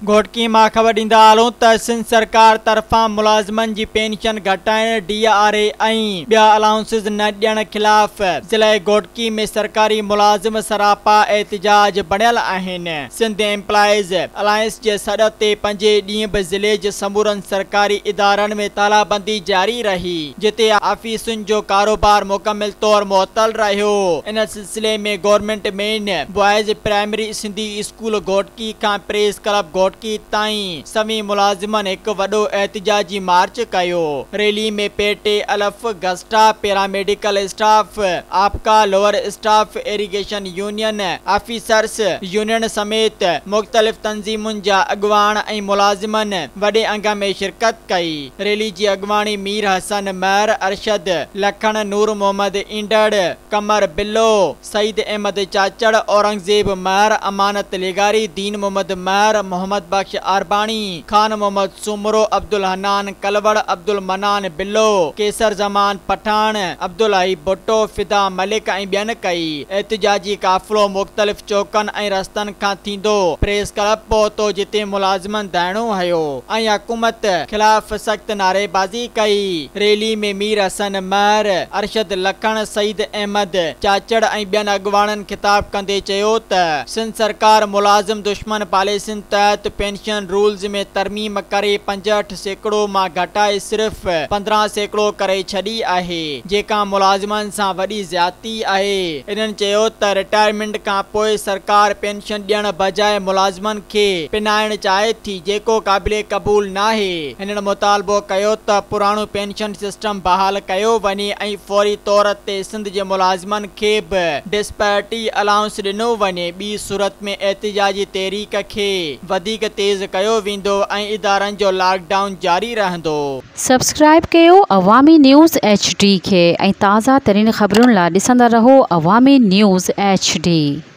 گهوٽڪي مان خبر ڏيندا هلون ته سنڌ سرڪار طرفان ملازمن جي پينشن گهٽائڻ، ڊي آر اي ۽ ٻيا الائونسز نه ڏيڻ خلاف ضلع گهوٽڪي ۾ سرڪاري ملازم سراپا احتجاج بڻيل آهن. سنڌ ايمپلائيز الائنس جي سڏ تي پنجين ڏينهن به ضلعي جي سمورن سرڪاري ادارن ۾ تالابندي جاري رهي جتي آفيسن جو ڪاروبار مڪمل طور معطل رهيو. ان سلسلي ۾ government main boys primary Sindhi school Ghotki کان پريس ڪلب گهوٽڪي تائين سوين ملازمن هڪ وڏو احتجاجي مارچ ڪيو. ريلي ۾ پي ٽي الف، گسٽا، پيراميڊيڪل اسٽاف، آپڪا، lower staff, irrigation union, officers union سميت مختلف تنظيمن جا اڳواڻ ۽ ملازمن وڏي انگ ۾ شرڪت ڪئي. ريلي جي اڳواڻي مير حسن مهر ارشد، لکڻ، نور محمد اينڊڙ، قمر بلو، سعيد احمد چاچڙ، اورنگزيب مهر، امانت لغاري، دين محمد مهر، محمد بخش عارباڻي، خان محمد سومرو، عبدالحنان ڪلوڙ، عبدالمنان بلو، قيصر زمان پٺاڻ، عبدالحئي ڀٽو، فدا ملڪ ۽ ٻين ڪئي. احتجاجي قافلو مختلف چوڪن ۽ رستن کان ٿيندو پريس ڪلب پهتو جتي ملازمن ڌرڻو هنيو. ۽ حڪومت خلاف سخت نعريبازي ڪئي. ريلي ۾ مير حسن مهر، ارشد لکڻ، سعيد احمد چاچڙ ۽ ٻين اڳواڻن خطاب ڪندي چيو ته سنڌ سرڪار ملازم دشمن پاليسين تحت پينشن رولز ۾ ترميم ڪري پنجهٺ سيڪڙو مان گهٽائي صرف پندرهن سيڪڙو ڪري ڇڏي آهي جيڪا ملازمن سان وڏي زيادتي آهي. انهن چيو ته رٽائرمينٽ کانپوء سرڪار پينشن ڏيڻ بجاء ملازمن کي پنائڻ چاهي ٿي جيڪو قابل قبول ناهي، هنن مطالبو ڪيو ته پراڻو پينشن سسٽم بحال ڪيو وڃي ۽ فوري طور تي سنڌ جي ملازمن کي به ڊسپيرٽي الائونس ڏنو وڃي ٻي صورت ۾ احتجاجي تحريڪ کي وڌيڪ تيز ڪيو ويندو ۽ ادارن جو لاڪ ڊائون جاري رهندو. سبسڪرائب ڪيو عوامي نيوز ايڇ ڊي کي ۽ تازه ترين خبرن لا ڏسندا رهو عوامي نيوز ايڇ ڊي.